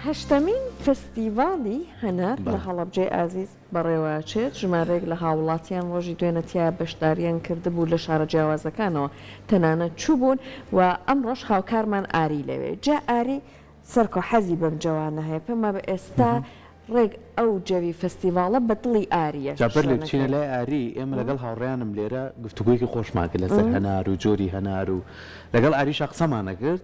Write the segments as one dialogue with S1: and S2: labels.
S1: هەشتەمین فستیڤاڵی هەنار لە هەڵەبجەی ئازیز بەڕێوەچێت، ژمارەیەک لە هاوڵاتیان ڕۆژی دوێنە تیایا بەشدارییان کردبوو لە شارە جیاوازەکانەوە تەنانەت چووبوون و ئەمڕۆش هاوکارمان ئاری لەوێ جا ئاری سەرکۆ حەزی بەم جەوانە هەیە پێمابێ ئێستا ڕێک ئەو جەوی فستیڤاڵە بە دڵی ئارییە جا بەر لێ بچینە لای
S2: ئاری ئێمە لەگەڵ هاوڕێیانم لێرە گفتوگۆیەکی خۆشمان کرد لەسەر هەنار و جۆری هەنار و لەگەڵ ئاریشا قسەمانەکرد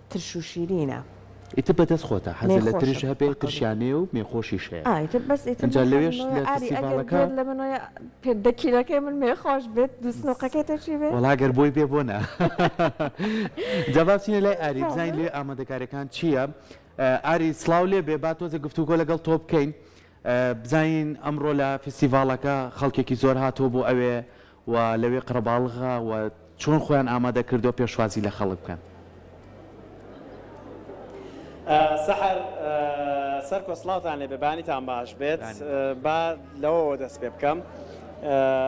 S1: ترش و شیرینە. ئیتر بەدەست
S2: خۆتە حەزت لە ترش هەبێ ترشیان هەیە و مێ خۆشیش هەیە ئا ئیتر بەس ئیتر من ئینجا حەزم لەوێش لەوەیە لە ئاری ئەگەر فستیڤاڵەکە گوێت لەمن وەیە
S1: پێ دە کیلەکەی من مێ خۆش بێت دوو سنوقەکەی تۆ چی بێ؟ وەڵا گەر بۆی بێ بۆ نا
S2: جا با بچینە لای ئاری بزانین لەوێ ئامادەکاریەکان چییە ئە ئاری سڵاو لێ بێ با تۆزێ گفتوگۆ لەگەڵ تۆ بکەین بزانین ئەمڕۆ لە فستیڤاڵەکە خەڵکێکی زۆر هاتووە بۆ ئەوێ و لەوێ قەرەباڵغە و چۆن خۆیان ئامادە کردووە پێشوازی لە خەڵک بکەن.
S3: سەحەر سەرکۆ سڵاوتان لێبێ بەیانیتان باش بێت با لەوەوە دەست پێ بکەم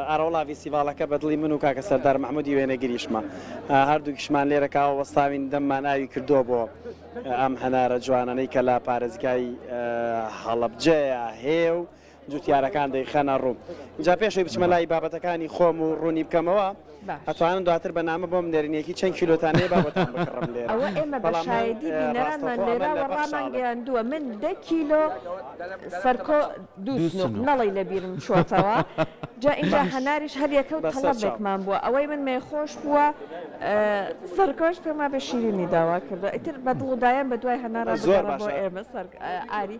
S3: ئاراوڵا ڤیسیڤاڵەکە بە دڵی من و کاکە سەردار محمودی وێنەگریشمە هەردووکیشمان لێرە کاوە وەستاوین دەممان ئاوی کردووە بۆ ئەم هەنارە جوانانەی کە لە پارێزگای هەڵەبجەیە هێ و جوتیارەکان دەیخەنە ڕوو. ئینجا پێش ئەوەی بچمە لای بابەتەکانی خۆم و ڕوونی بکەمەوە، ئەتوانن دواتر بە نامە بۆم بنێرن یەکی چەند کیلۆتان هەیە با بۆتان بکڕم لێرە. ئەوە ئێمە بە شایەدی
S1: بینەرانمان لێرەوە ڕامانگەیاندووە، من دە کیلۆ سەرکۆ، دوو سنووق، نەڵەی لە بیرم چۆتەوە. جا ئینجا هەناریش هەر یەکە و تەڵەبێکمان بووە. ئەوەی من مێخۆش بووە، سەرکۆش پێم وابێ شیرینی داوا کردووە. ئیتر بە دڵ و دایان بە دوای هەنارا بگەڕێ بۆ ئێمە سەر ئاری.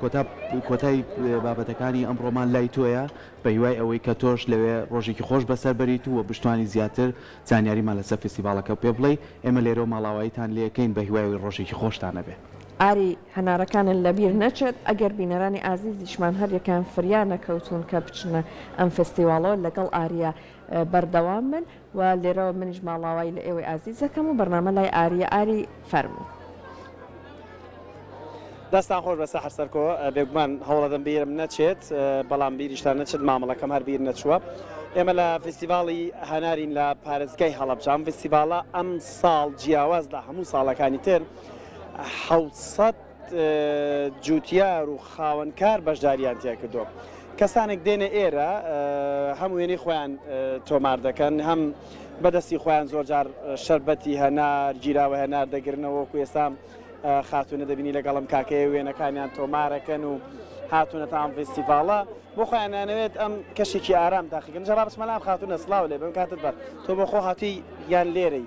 S2: کۆتا کۆتای بابەتەکانی ئەمڕۆمان لای تۆیە بە هیوای ئەوەی کە تۆش لەوێ ڕۆژێکی خۆش بەسەر بەریت و بشتوانی زیاتر زانیاریمان لەسەر فیستیڤاڵەکە پێ بڵێی ئێمە لێرەوە ماڵاواییتان لێ ئەکەین بە هیوای ئەوەی ڕۆژێکی خۆشتان ئەبێ. ئاری
S1: هەنارەکانت لە بیر نەچێت ئەگەر بینەرانی ئازیزیشمان هەر یەکەیان فریا نەکەوتوون کە بچنە ئەم فیستیواڵەوە لەگەڵ ئاریە بەردەوام بن. و لێرەوە منیش ماڵاوایی لە ئێوەی ئازیز دەکەم و بەرنامە لای ئاریە ئاری فەرموو.
S3: دەستان خۆش بە سەحر سەرکۆ بێگومان هەوڵەدەم بیرم نەچێت بەڵام بیریشتان نەچێت مامەڵەکەم هەر بیر نەچووە ئێمە لە فستیڤاڵی هەنارین لە پارێزگای هەڵەبجام فستیڤاڵە ئەم ساڵ جیاواز لە هەموو ساڵەکانی تر حوسەت جوتیار و خاوەن کار بەشداریان تیاکردووە کەسانێک دێنە ئێرە هەم وێنەی خۆیان تۆمار دەکەن هەم بەدەستی خۆیان زۆرجار شربەتی هەنار گیراوە هەنار دەگرنەوە و ئێسام خاتونە دەبینی لەگەڵم کاکەیە وێنەکانیان تۆمارەکەن و هاتونە تام فستیڤالە بۆ خۆیانانەوێت ئەم کەشێکی ئارام داخگەن جەڵابسمەلام خاتونە سلااو لێ بم کاتت بەر تۆ بەخۆ هاتی یان لێرەی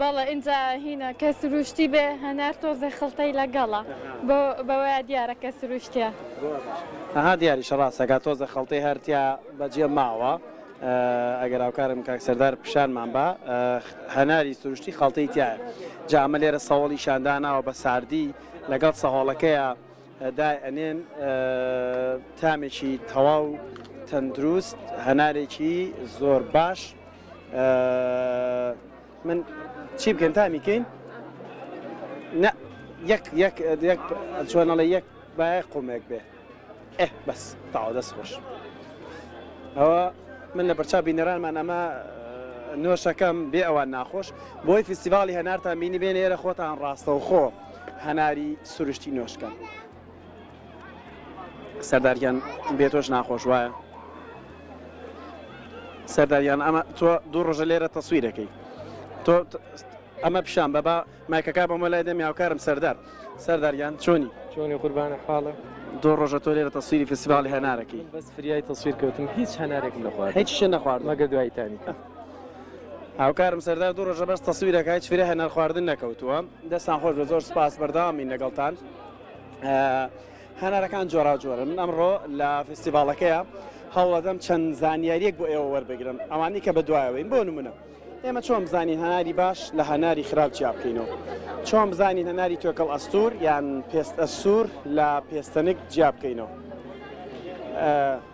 S4: بەڵێ ئینجا هینا کە سروشتی بێ هەنار تۆزێ خڵتەی لەگەڵە بۆ بەوەیە دیارە کە سروشتیە. ئەها
S3: دیاریشە ڕاستەکات تۆزێ خڵتەی هەر تیا بەجێ ماوە ئەگەر هاوکارم کاک سەردار پیشانمان با هەناری سروشتی خڵتەی تیایە جا ئەمە لێرە سەوڵی شان داناوە بە ساردی لەگەڵ سەهۆڵەکەیا دای ئەنێن تامێکی تەواو تەندروست هەنارێکی زۆر باش من چی بکەین تامی کەین نە یەک یەک یەک چۆنەڵە یەک باە قومێک بێ ئێ بەس تاوا دەست خۆش ئەوە من لە بەرچا بینەرانمان ئەمە نۆشەکەم بێ ئەوان ناخۆش بۆی فیسیڤالی هەنارتان بینی بێنێرە خۆتان ڕاستەوخۆ هەناری سروشتی نۆش کەن. سەردار گیان بێ تۆش ناخۆش وایە سەرداریان ئەمە تۆ دوو ڕۆژە لێرە تەسویرەکەی تۆ ئەمە پیشان بە با مایکەکە بەمە لای دەم یاوکارم سەردار سەرداریان چۆنی چۆنی قوربانە حاڵە
S5: دۆ ڕۆژە تۆ
S3: لێرە تەسویری فستیڤالی هەنارەکەی بەس فریای تەسویر
S5: کەوتم هیچ هەنارێک نەخوارد هیچ شە نەخوارد مەگە
S3: دوایتانی هاوکارم سەردار دوو ڕۆژە بەس تەسویرەکە هیچ فرە هەنار خواردن نەکەوتووە دەستان خۆش بە زۆر سپاس بەرداوامین لەگەڵتان هەنارەکان جۆرا جۆرە من ئەمڕۆ لە فستیڤالەکەیە هەوڵەدەم چەند زانیاریەک بۆ ئێوە وەربگرم ئەوانی کە بەدوایەوەین بۆ نمونە ئێمە چۆن بزانین هەناری باش لە هەناری خراپ چیا بکەینەوە چۆن بزانین هەناری تۆکەڵ ئەستور یان پێست ئەسوور لە پێستەنک جیا بکەینەوە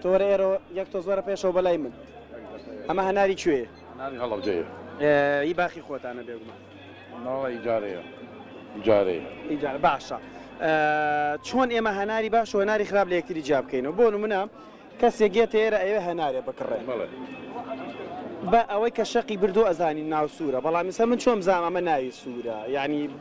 S3: تۆ وەرە ئێرەوە یەک تۆز وەرە پێشەوە بەلای من. ئەمە هەناری کوێیە؟ هەناری هەڵەبجەیە.
S6: ئی باخی
S3: خۆتانە بێگومان. ناڵە
S6: ئیجارەیە. ئیجارەیە. ئیجارە باشە.
S3: چۆن ئێمە هەناری باش و هەناری خراپ لە یەکتری جیا بکەینەوە؟ بۆ نمونە کەسێک یێتە ئێرە ئەوێ هەنارێ بکڕێ. بەڵێ. بە ئەوەی کە شەقی بردووە ئەزانی ناو سوورە، بەڵام ئیستا من چۆن بزانم ئەمە ناوی سوورە؟ یانی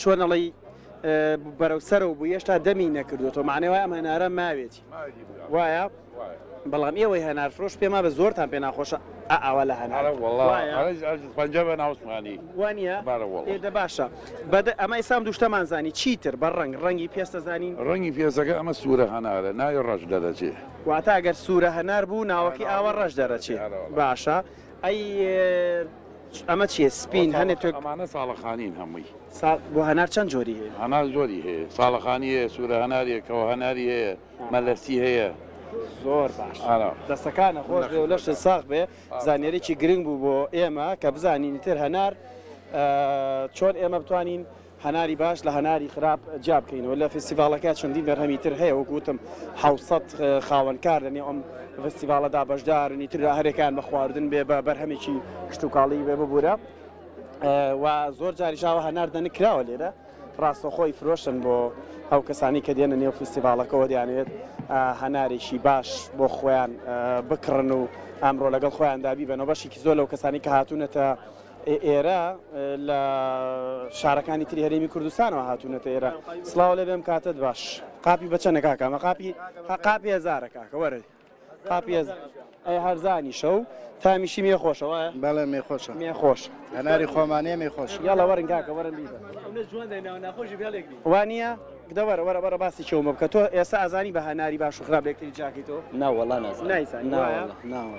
S3: چۆن ئەڵێی بەرەو سەرەوە بوو هێشتا دەمی نەکردوەوە معنی وای ئەم هەنارە ماوێتی وایە بەڵام ئێوەی هەنار فرۆش پێما بە زۆرتان پێ ناخۆشە ئاوا لە هەنارە
S6: پەنج بە ناوسمانی وانە
S3: ئێدە باشە بەدە ئەمە ئسام دوشتەمان زانی چیتر بە ڕنگ ڕەنگی پێستە زانین ڕەنگی پێزەکە ئەمە
S6: سوورە هەنارە ناوی ڕەش دەرەچێ واتە ئەگەر سوورە
S3: هەنار بوو ناوەکی ئاوە ڕەش دەرەچێ باشە ئەی ئەمە چیە سپین هەنێ تۆ. ئەمانە ساڵەخانین
S6: هەمووی. سا بۆ هەنار چەند
S3: جۆری هەیە؟ هەنار زۆری هەیە
S6: ساڵەخانی هەیە سوورە هەناری هەیە کەوە هەناری هەیە مەلەسی هەیە. زۆر
S3: باش دەستەکانە خۆش بێ و لەشت ساغ بێ زانیاریی گرنگ بوو بۆ ئێمە کە بزانین تر هەنار چۆن ئێمە بتوانین هەناری باش لە هەناری خراپ جیا بکەینەوە لە فیستیڤاڵەکە چەندین بەرهەمی تر هەیە وەکو وتم حەوت سەد خاوەنکار لەنێو ئەم فیستیڤاڵەدا بەشدارن ئیتر هەر یەکەیان بە خواردن بێ بە بەرهەمێکی کشتوکاڵی بێ ببوورە و زۆر جاریش هاوە هەنار دەنک کراوە لێرە ڕاستەخۆی فرۆشن بۆ ئەو کەسانی کە دێنە نێو فیستیڤاڵەکەەوە دەیانێت هەنارێکی باش بۆ خۆیان بکڕن و ئەمڕۆ لەگەڵ خۆیاندا بیبەنەوە بەشێکی زۆر لەو کەسانی کە هاتوونەتە ئێرە لە شارەکانی تری هەرێمی کوردستانەوە هاتوونەتە ئێرە سلااو لێ بێم کاتت باش قاپی بەچەنە کاکە ئەمە قاپی قاپی هزارە کاکە وەرە قاپی ئەی هەرزانی شەو تامیشی مێ خۆشەوە بەڵێ مێ خۆشە
S7: مێ خۆش هەناری
S3: خۆمانە
S7: مێ خۆش یاڵە وەرن کاکە وەرن
S3: وانە دە وەرە وەرە بەرە باسی چۆمە بکە تۆ ئێستا ئازانی بە هەناری باش و خراپێکتری جاکەیتەوە ناوەڵا نایسان ناوە ناوە.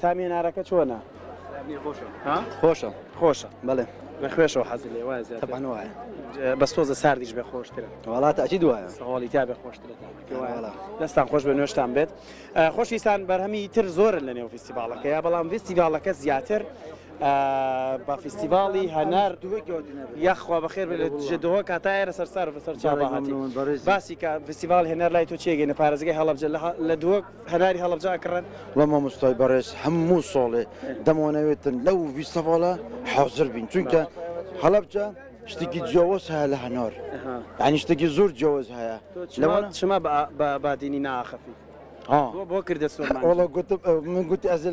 S3: تامی نارەکە چۆنە؟
S7: خۆشە خۆشە
S3: بەڵێ لە
S7: خوێشەوە حەزی لێ
S3: وایە زیاتر. تەبان وایە
S7: بەس تۆزە
S3: ساردیش بێ خۆشترە وەڵا تاکی دوایە
S7: سەواڵی تا بێ خۆشترە
S3: تامەکە وایە. وەڵا. دەستان خۆش بە نوێشتان بێت ئا، خۆشویستان بەرهەمی تر زۆرن لە نێو فیستیڤاڵەکەیە بەڵام فیستیڤاڵەکە زیاتر ئا، بە فیستیڤاڵی هەنار یاخوا بەخێر بێت لە دژە دهۆک هەتا ئێرە سەرسارم لەسەر چاڤاهاتی. بەڕێزم. باسی کە فیستیڤاڵی هەنار لای تۆ چییە گەینە پارێزگای هەڵەبجە لە ها لە دهۆک هەناری هەڵەبجە ئەکڕن. وە مامۆستای بەڕێز
S8: هەموو ساڵێ دەمانەوێتن لەو ڤیستیڤاڵە حازر بین چونکە هەڵەبجە شتێکی جیاواز هەیە لە هەنار یانی شتێکی زۆر جیاواز هەیە لەوانە چما
S3: بە بادینی ناخەفی ها بۆ کردە سۆرمان وەڵا گوتم من
S8: گوتی ئەز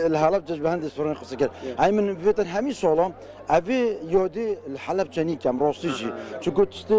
S8: الحەڵەب جەش بە هەندێک سۆران قسە کرد ئای من بێتن هەمی سۆڵام ئەبێ یۆدی الحەلەب چەنی کەم ڕۆستیژی چ گوت شتێ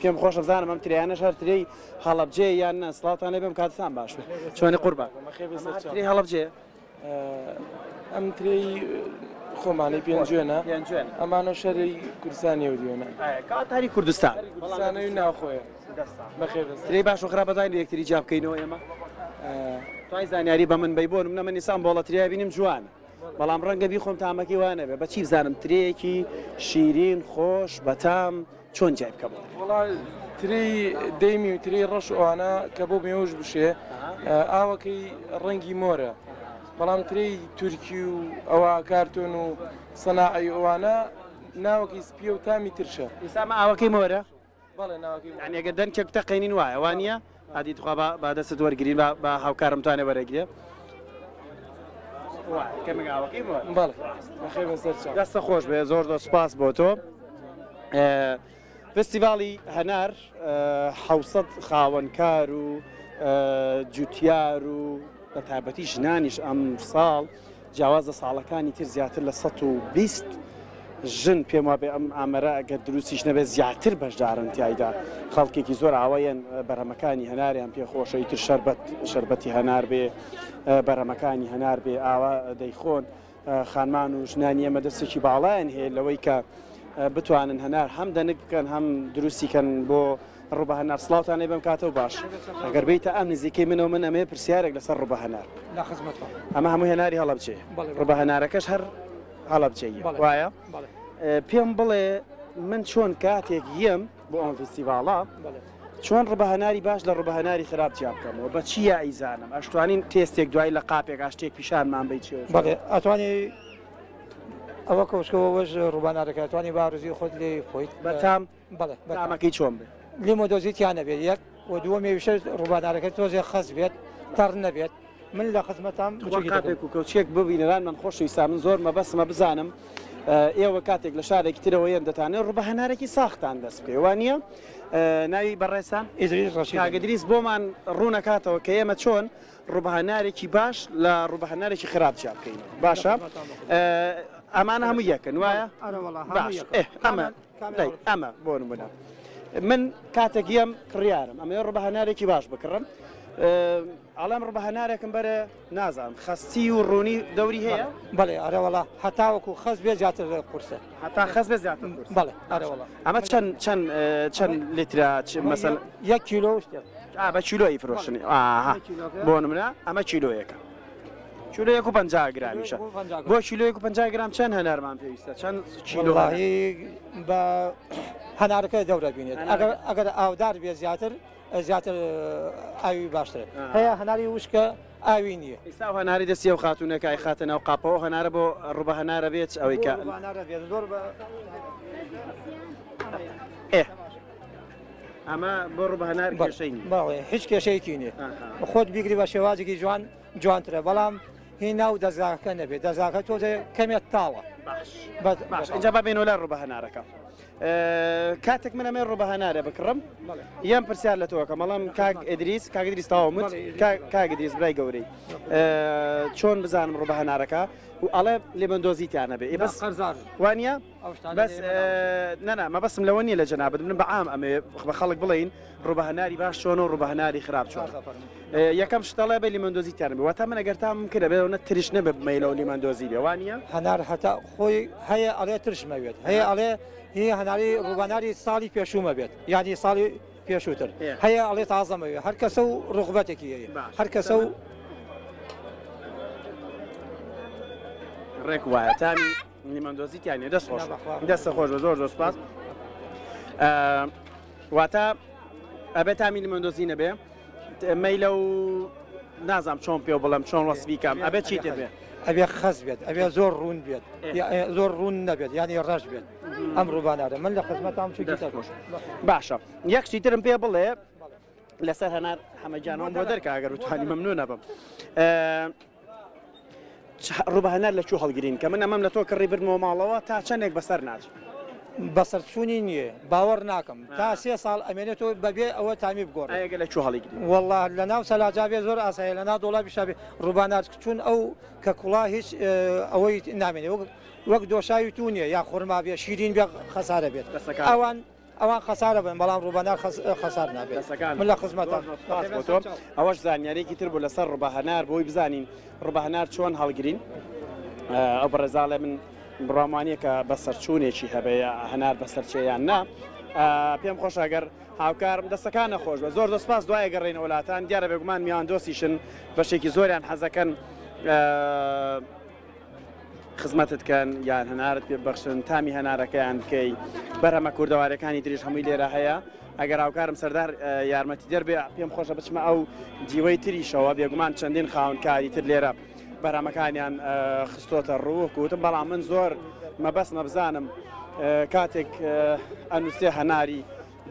S3: پێم خۆشە بزانم ئەم ترێیانەش هەر ترێی هەڵەبجەیە یان نا سڵاوتان لێبێم کاتتان باش بێ چۆنی قوربان ترێی هەڵەبجەیە
S5: ئەم ترێی خۆمانی پێنجێنە ئەمانە شەری کوردستانی و دیێنە کاتاری کوردستان
S3: بەڵانەوی
S5: ناوخۆێ ترێی باش و خراپ
S3: بەزانین یەکتری جا بکەینەوە ئێمە توای زانیاری بە من بی بۆن منە من نیسان بۆڵەتریا بینیم جوان بەڵام ڕەنگە بیخۆم تامەکی وانەبێ بەچی بزانم ترەیەکی شیرین خۆش بەتام چۆن جیای بکەم؟ وەڵا
S5: ترێی دەیمی و ترێی ڕەش ئەوانە کە بۆ مێوژ بشێ ئاوەکەی ڕەنگی مۆرە بەڵام ترێی تورکی و ئەوە کارتۆن و سەناعی ئەوانە ناوەکەی سپیە و تامی ترشە ئسامە ئاوەکەی مۆرە
S3: بەڵێ ناوەکەی
S5: ئەگە دەنکێک تەقێنین
S3: وایە وانە؟ هادی تخوا با با دەستت وەرگرین با با هاوکارم توانێ وەرەگرێ وا کەمێک ئاوەکەی
S5: بۆ بەڵێ بەخێر بەسەر چاو دەستە خۆش بێ زۆر
S3: زۆر سپاس بۆ تۆ ئێ، فستیڤاڵی هەنار ئێ، حەوسەت خاوەنکار و ئێ، جوتیار و بە تایبەتی ژنانیش ئەم ساڵ جیاواز لە ساڵەکانی تر زیاتر لە سەد و بیست ژن پێم وابێ ئەم ئامەرە ئەگەر دروستیش نەبێت زیاتر بەشدارن تیایدا خەڵکێکی زۆر ئاوایەن بەرەمەکانی هەناریان پێ خۆشە ئیتر شربەت شربەتی هەنار بێ بەرەمەکانی هەنار بێ ئاوا دەیخۆن خانمان و ژنانی ئەمە دەستێکی باڵایان هەیە لەوەی کە بتوانن هەنار هەم دەنک بکەن هەم دروستیکەن بۆ ڕۆبە هەنار سڵاوتانێ بەم کاتە و باش ئەگەر بیتە ئەم نزیکەی منەوە من ئەمێ پرسیارێک لەسەر ڕۆبە هەنار لە خزمەت ئەمە هەموو هێناری هەڵەبچێ ڕۆبە هەنارەکەش هەر هەڵەبچێ وایە پێم بڵێ من چۆن کاتێک یەم بۆ ئەم فستیڤاڵە چۆن ڕبە هەناری باش لە ڕبە هەناری خراپ جیا بکەمەوە بە چی یائیزانم ئەشتوانین تێستێک دوای لە قاپێک ئاشتێک پیشانمان بیت بەڵێ
S9: ئەتوانی ئەوە کۆشکەوەش ڕوبانارەکە توانی بارزی خۆت لێ خۆیت بەتام بەڵێ
S3: بە تامەکەی
S9: چۆن بێت؟
S3: لیمۆ دۆزی تیا نەبێت
S9: یەک و دووەمێویشە ڕووبارەکە تۆزێ خەست بێت تەڕ نەبێت من لە خزمەتام قاپێک و کەوچێک
S3: ببینەران من خۆشویستا من زۆر مەبەسمە بزانم ئێوە کاتێک لە شارێکی ترەوە یەن دەتانێت ڕوبە هەنارێکی ساختان دەست پێ وانە ناوی بەڕێسا ئیدریس بۆمان ڕوونەکاتەوە کە ئێمە چۆن ڕوبهنارێکی باش لە ڕوبهنارێکی خراپ چیا بکەین باشە ئەمانە هەموو یەکەن وایە ئەمە لایک ئەمە بۆ نمونە من کاتێک یەم کڕیارم ئەمە ڕبە هەنارێکی باش بکڕم ئەڵێم ڕبە هەنارێکم بەرە نازانم خەستی و ڕوونی دەوری هەیە بەڵێ ئەرەوەڵا
S9: هەتاوەکو خەست بێ زیاتر لە قورسە هەتا خەست بە
S3: زیاتر بەڵێ ئەرەوەڵا
S9: ئەمە چەند چەند
S3: چەند لترا مەسەن یەک کیلۆ
S9: شتێک بە کیلۆی
S3: فرۆشنی بۆ منە ئەمە کیلۆیەکە کیلۆیەک و پەنجا گرامیشە بۆ کیلۆیەک و پەنجا گرام چەند هەنارمان پێویستە چەند کیلۆ وەڵاهی
S9: بە هەنارەکە دەورە بینێت ئەگەر ئەگەر ئاودار بێ زیاتر زیاتر ئاوی باشتر هەیە هەناری وشکە ئاوی نییە ئیستا هەناری دەستی و
S3: خاتونەکەی خاتە ناو قاپەوە هەنارە بۆ ڕوبە هەنارە بێت ئەوەی کە ئێ ئەمە بۆ ڕوبە هەنار بەشەی باڵێ هیچ کێشەیەکی
S9: نیە خۆت بیگری بە شێوازێکی جوان جوانترە بەڵام هی ناو دەزاکە نەبێت دەزاکە تۆ کەمێت تاوە باش اینجا
S3: با بێنەوە لە ڕوبە هەنارەکە. کاتێک من ئەمێ ڕوبە هەنارە بکڕم یان پرسیار لە تۆکە مەڵام کاک ئەدریس کاگدریس تاوا من کاگدریس برای گەورەی چۆن بزانم ڕوبە هەنارەکە و ئەڵێ لێبندۆزیتیانە بێ بەس قەرزار وانە بەس نەنا مەبەسم لەوە نیە لە جەنابەت من بە عام ئەمێ بە خەڵک بڵین ڕوبە هەناری باش چۆن و ڕوبە هەناری خراپ چۆن یەکەم شتەڵێ بە لیمەندۆزی تەرم واتە من ئەگەر تام کرە بێ نە ترش نەبێ بمەیلەوە لیمەندۆزی بێوانە هەنار هەتا
S9: خۆی هەیە ئەڵێ ترشمەوێت هەیە ئەڵێ هی هەناری ڕوباناری ساڵی پێشوومە بێت یادی ساڵی پێشووتر هەیە ئەڵێ تازەمەوێ هەر کەسە و ڕغبەتێکی هەر کەسە و
S3: ڕێک وایە تامی لیمۆندۆزی تیا نیە دەست خۆش نا بەخوا. دەستە خۆش بە زۆر زۆر سپاس ئە، واتە ئەبێ تامی لیمۆندۆزی نەبێ ت- مەیلە و نازام چۆن پێ بڵێم چۆن وەسفی کەم ئەبێ چی تر بێ ئەبێ خەس بێت
S9: ئەبێ زۆر ڕوون بێت یا- ئێ، زۆر ڕوون نەبێت یانی ڕەش بێت ئەم ڕووبانادە من لە خزمەتام چی دەست خۆش باشە
S3: یەک شتی ترم پێ بڵێ لەسەر هەنار حەمەجانەوە بۆ دەرکە ئەگەر بتوانی مەمنونە بم ئە، ڕووبە هەنار لە کوو هەڵگرین کە من ئەمەم لە تۆ کڕی بردمەوە ماڵەوە تا چەنێک بەسەر ناچ. بەسەرچوونی
S9: نییە باوەڕ ناکەم تا سێ ساڵ ئەمێنێت و بەبێ ئەوە تامی بگۆڕێ ئەگە لە کوو هەڵیگری.
S3: وەڵا لە ناو سەلاجا
S9: بێ زۆر ئاسایە لە ناو دۆڵابیشا بێ ڕووبا نار چون ئەو کە کوڵا هیچ ئەوەی نامێنێ وەک وەک دۆشاوی توو نییە یا خۆرما بێ شیرین بێ خەسارە بێت ئەوان. ئەوان خەسار ئەبن بەڵام ڕووبەنار خەسار نابێت من لە خزمەتم. سپاس بۆ تۆ.
S3: ئەوەش زانیاریەکی تر بوو لەسەر ڕوبەهەنار بۆی بزانین ڕوبەهەنار چۆن هەڵگرین ئەو بەڕێزا ئەڵێ من بڕوام وانیە کە بە سەرچوونێکی هەبەیە هەنار بە سەرچێ یان نا پێم خۆش ئەگەر هاوکارم دەستەکان نەخۆش بە زۆر دەسپاس دوای گەڕێنە وڵاتان دیارە بێگومان میان دۆسیشن بەشێکی زۆریان حەزەکەن خزمەتت کەن یان هەنارت پێ ببەخشن تامی هەنارەکەیان بکەی بەرهەمە کوردەوارەکانی دریش هەمووی لێرە هەیە ئەگەر هاوکارم سەردار یارمەتی دەربێ پێم خۆشە بچمە ئەو دیوەی تریشەوە بێگومان چەندین خاونکاری تر لێرە بەرامەکانیان خستۆتە ڕووکوتم بەڵام من زۆر مەبەست مەبزانم کاتێک ئەنووسێ هەناری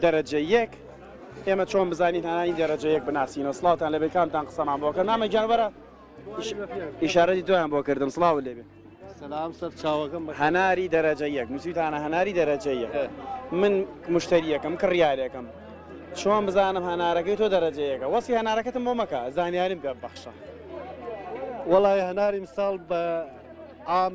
S3: دەرەجە یەک ئێمە چۆن بزانین هەنانی دەرەجەیەک بناسیینەوە سلااوان لە بێکانتان قسەمان بۆکە نامە گیانوەرە ئیشارەتی تۆیان بۆ کردم سڵاو لێبێ سلام سەر
S10: چاوەکەم هەناری دەرەجە
S3: یەک نووسیتانە هەناری دەرەجە یەک من مشتریەکەم کڕیارێکم چۆن بزانم هەنارەکەی تۆ دەرەجەیەەکە وەسی هەنارەکەتم بۆ مەکە زانیاریم پێ بەخشە
S10: وەڵی هەناریم ساڵ بە ئام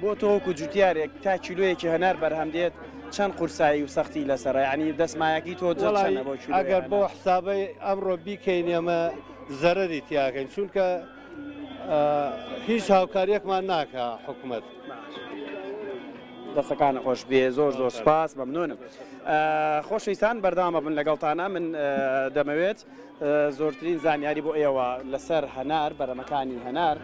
S3: بۆ تۆ وەکو جوتیارێک تا کیلۆیەکی هەنار بەرهەم دێت چەند قورسایی و سەختی لەسەر ینی دەستمایەکی تۆ ئەگەر بۆ
S10: حسابی ئەمڕۆ بیکەین ئەمە زەرری تیاکەین چونکە هیچ هاوکاریەکمان ناکە حکوومەت
S3: دەستەکان خۆش بێ زۆر زۆر سپاس مەمنونم خۆشویستان بەردامە بن لەگەڵتانە من دەمەوێت زۆرترین زانیاری بۆ ئێوە لەسەر هەنار بەرەمەکانی هەنار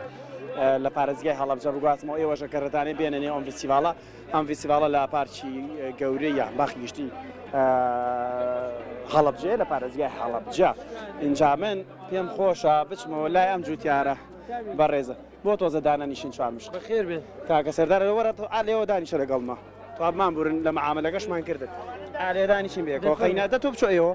S3: لە پارێزگای هەڵەبجە بگوازمەوە ئێوەش ئەگەر ڕێتانەوێت بێنە نێو ئەم ڤیستیڤاڵە ئەم ڤیستیڤاڵە لە پارکی گەورەی یان باخی گشتی هەڵەبجەیە لە پارێزگای هەڵەبجە ئینجا من پێم خۆشە بچمەوە لای ئەم جوتیارە بەڕێزە بۆ تۆزە دانەنیشین چوارمش بەخێر بێت تاکە
S5: سەردارە وەرە
S3: تۆ ئالێەوە دانیشە لەگەڵمە توابمان بورن لە مەعاملەکەشمان کردن ئالێدانیشین بێ کۆقینە دە تۆ بچۆ ئێوە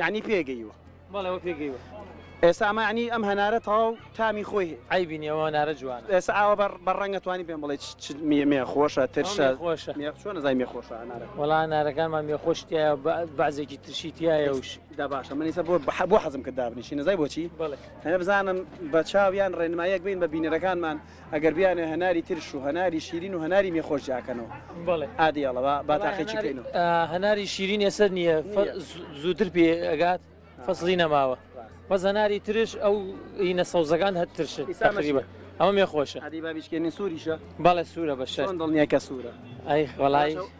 S3: یعنی پێگەیوە بەڵێەوە
S5: پێگەیوە ئێستا ئەمە
S3: عنی ئەم هەنارە تەواو تامی خۆی ئایبینی ئەوە نارە
S5: جوان ئێستا ئاوە بەر بە
S3: ڕەنگە توانی پێم بڵێ مێ خۆشە ترشە خۆشە چۆن نزای
S5: مێ خۆشە
S3: هەنارە وڵا نارەکانمان مێ
S5: خۆشتیە بەعزێکی ترشی تایە وش دا باشە منیسە بۆ
S3: بۆ حەزم کە دابنیشی نزای بۆچی بڵێ هەە بزانم بە چاویان ڕێنمایەک بین بە بینەرەکانمان ئەگەر بیانێ هەناری ترش و هەناری شیرین و هەناری مێ خۆش جیاکەنەوە بەڵێ ئادی ئەڵەوە
S5: با تاقی
S3: چی بکەین و هەناری شیرین
S5: ێسەر نییە زووتر پێ ئەگات فەسلی نەماوە بەس هەناری ترش ئەو هینە سەوزەکان هەر ترش تقریبە ئەوە مێ خۆشە ئەدی بابیشکێنی سووریشە
S3: بەڵێ سوورە بە شەر
S5: دڵنیە کە سوورە
S3: ئەی
S5: خۆڵایی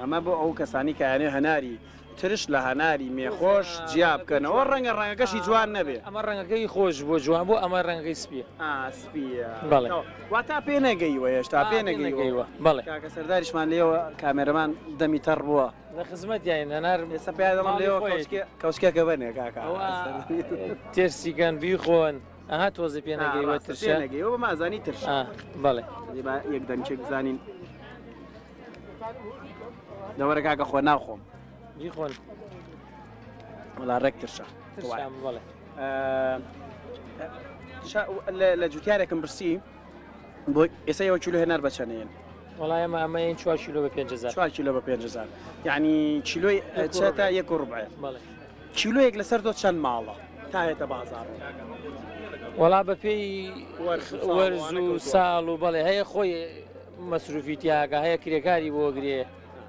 S3: ئەمە بۆ ئەو کەسانی کە ئەیانەوێت هەناری ترش لە هەناری مێخۆش جیا بکەنەوە ڕەنگە ڕەنگەکەشی جوان نەبێ ئەمە ڕەنگەکەی خۆش
S11: بۆ جوان بۆ ئەمە ڕەنگەکەی سپیە سپیە
S3: بەڵێ وا
S11: تا پێ
S3: نەگەیوە هێشتا پێ نەگەیوە بەڵێ کاکە سەرداریشمان
S11: لێەوە
S3: کامێرەمان دەمی تەڕ بووە لە خزمەت یاین
S11: هەنار سەپیادەڵم لێەوە
S3: کەوچکێکە بەنێ کاکە
S11: تێرسیگەن بیخۆن. ئەها تۆزی پێ نەگەیوە ترشە نەگەیەوە بە مازانی ترش
S3: بەڵێ
S11: با یەک دەنچێک
S3: بزانین دەوەرە کاکە خۆ ناخۆم جی خۆن وڵا ڕێک ترشە
S11: بڵێ
S3: لە جوتیارێکم برسی بۆ ئێستا ئەوە چلو هێنار بەچەنێن وەڵا ئێمە
S11: ئەمەین چوار کیلۆ بە پێنج هەزار چوار کیلۆ بە پێنج هەزار
S3: یعنی کیلۆی چێتە یەک و ڕوبعێ بەڵێ
S11: کیلۆیەک لەسەر
S3: تۆ چەند ماڵە تا هێتە بازاڕ
S11: وەڵا بە پێی وەرز و ساڵ وەرز وانەکە و و ساڵ و بەڵێ هەیە خۆی مەسروفی تیاگە هەیە کرێکاری بۆ گرێ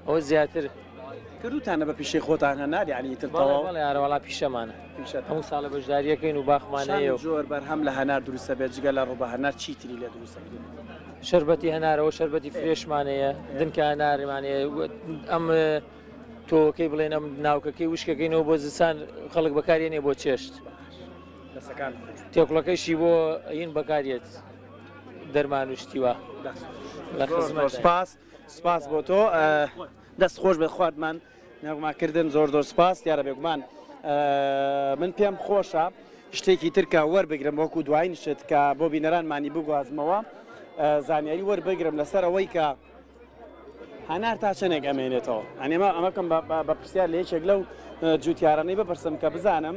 S11: ئەوە زیاتر کردوتانە
S3: بە پیشەی خۆتان هەنار یعنی تر بەڵێ تەواو بەڵێ یارە وەڵا پیشەمانە
S11: هەموو ساڵە بەشداریەکەین و باخمان هەیە و زۆر بەرهەم لە هەنار
S3: دروست دەبێت جگە لە ڕووبە هەنار چی تری لێ دروست دەبێت شربەتی
S11: هەنارەوە شربەتی فرێشمانەیە دنکە هەنارمانەیە ئەم تۆکەی بڵێن ئەم ناوکەکەی وشکەکەینەوە بۆ زستان خەڵک بەکارێ نیە بۆ چێشت تێکڵەکەشی بۆ ئەین بەکارێت دەرمان وشتیوە لە خزمەت سپاس. سپاس
S3: بۆ تۆ دەست خۆش بێت خواتمان نەغما کردن زۆر زۆر سپاس دیارە بێگومان من پێم خۆشە شتێکی ترکە وەربگرم وەکو دوایین شت کە بۆ بینەرانمانی بگوازمەوە زانیاری وەربگرم لەسەر ئەوەی کە هەنار تا چەندێک ئەمێنێتەوە ئەنێمە ئەمەکەم بە پرسیار لە یەکێک لەو جوتیارانەی بپرسم کە بزانم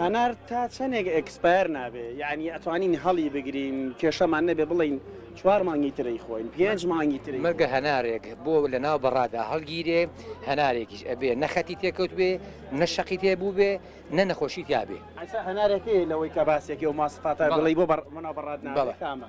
S3: هەنار تا چەنێک ئێکسپایەر نابێ یانی ئەتوانین هەڵی بگرین کێشەمان نەبێ بڵێین چوار مانگی تر ئەیخۆین پێنج مانگی تر ئەیخۆین. مەرگە هەنارێک
S12: بۆ لە ناو بەڕادا هەڵگیرێ هەنارێکیش ئەبێ نە خەتی تێکەوتبێ نە شەقی تێ بووبێ نە نەخۆشی تیابێ. ئەسا هەنارێک هەیە
S3: لەوەی کە باسێکی و ماسفاتە بڵێی بۆ بەڕ بەڕاد نابێ کامە؟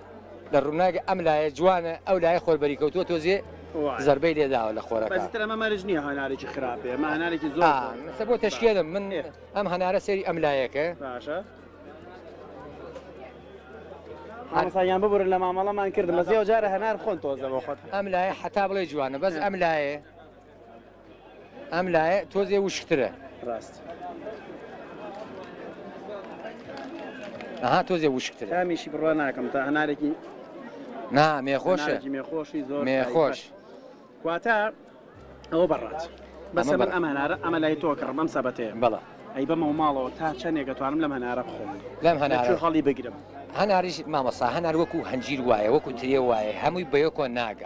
S12: لە ڕوناک ئەم لایە جوانە ئەو لایە خۆر بەری کەوتووە تۆزێ زربەی لێداوە لە خۆرە ئەمە مەرج نییە
S3: هەنارێکی خراپێ ئەمە هەنارێکی زۆر بۆ تەشکێنم
S12: من ئەم هەنارە سەری ئەم لایەکە
S3: باشە ئەسایان ببورن لە مامەڵەمان کرد مەزیەوە جارە هەنار خۆن تۆزەوە خۆت ئەم لایە حتا بڵێ
S12: جوانە بەس ئەم لایە ئەم لایە تۆزێ وشکترە ڕاست ئەها تۆزێ وشکتر تامیشی بڕوا ناکەم
S3: تا هەنارێکی نا
S12: مێخۆشە مێخۆشی زۆر
S3: مێخۆش
S12: واتە
S3: ئەوە بەڕات بەسە من ئەم هەنارە ئەمە لای تۆ کڕم ئەم سەبەتەیە بەڵە ئەی بەمە و
S12: ماڵەوە
S3: تا چەندێک دەتوانم لەم هەنارە بخۆم لەم هەنار هەڵی
S12: بگرم هەناریش مامەسا
S3: هەنار
S12: وەکو هەنجیر وایە وەکو تێ وایە
S3: هەمووی
S12: بەیەکۆ ناگات